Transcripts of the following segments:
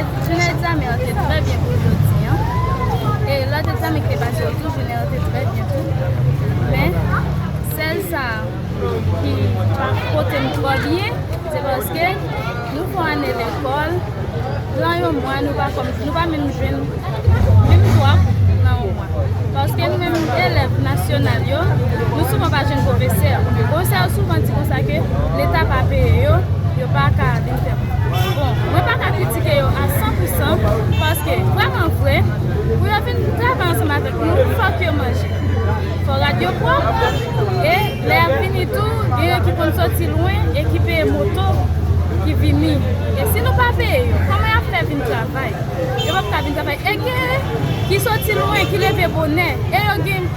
Jounen egzamen an te trè byen pou jodi an. E lòt egzamen ki te pase yo tou, jounen an te trè byen tou. Men, sèl sa ki pa pote m twò byen, se paske nou fè yon ane lekòl, nan yon mwa nou pa kòmanse, nou pa menm jwenn menm 3 kou nan yon mwa. Paske nou menm elèv nasyonal yo, nou souvan pa jwenn pwofesè. Pwofesè yo souvan di konsa ke leta pa peye yo, yo pa ka. Bon, mwen pa ka kritike yo a san pou san, paske vrèman vre, pou yo vin travay ansanm avèk nou, fòk yo manje. Fò rad yo pwòp, e lè y ap vini tou, genyen ki konn soti lwen e ki peye moto pou ki vini. E si nou pa peye yo, kòman y ap fè vin travay? Yo p ap ka vin travay. E genyen ki soti lwen, ki leve bonè, e yo gen.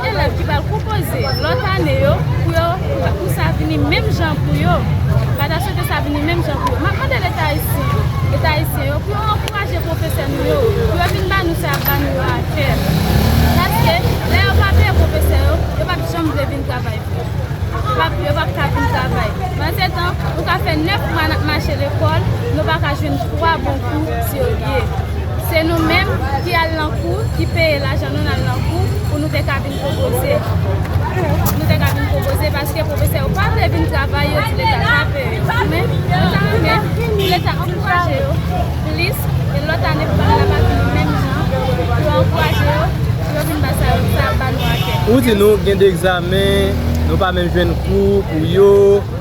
Elèv ki pral konpoze lòt ane yo pou yo pou sa vini menm jan pou yo. Mwen ta swete sa vini menm jan pou yo. Map mande leta ayisyen yo, leta ayisyen yo pou yo ankouraje pwofesè nou yo pou yo vin ba nou sa yap ba nou yo a kè. Paske lè yo pa peye pwofesè yo, yo pap janm vle vin travay vre. Yo pap yo pap ka vin travay. Pandetan, nou ka fè 9 mwa nap mache lekòl, nou pa ka jwenn 3 bon kou serye. Se nou menm ki al lan kou, ki peye lajan nou nal lan kou pou nou te ka vin pwopoze. Nou te ka vin pwopoze paske pwofesè yo pa vle vin travay yo di leta krape yo. Men, nou ta renmen pou leta ankouraje yo plis e lòt ane pou bagay la pa vini menm jan, pou yo ankouraje yo pou yo vin ba sa yo, sa yo ba nou a tè. Ou di nou gen de egzamen, nou pa menm jwenn kou pou yo.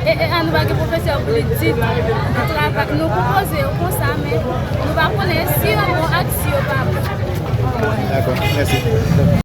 E e a nou pa gen pwofesè pou li di nou travay nou pou poze yo konsa men nou pa konnen si yo bon ak si yo pa bon. Dako mèsi.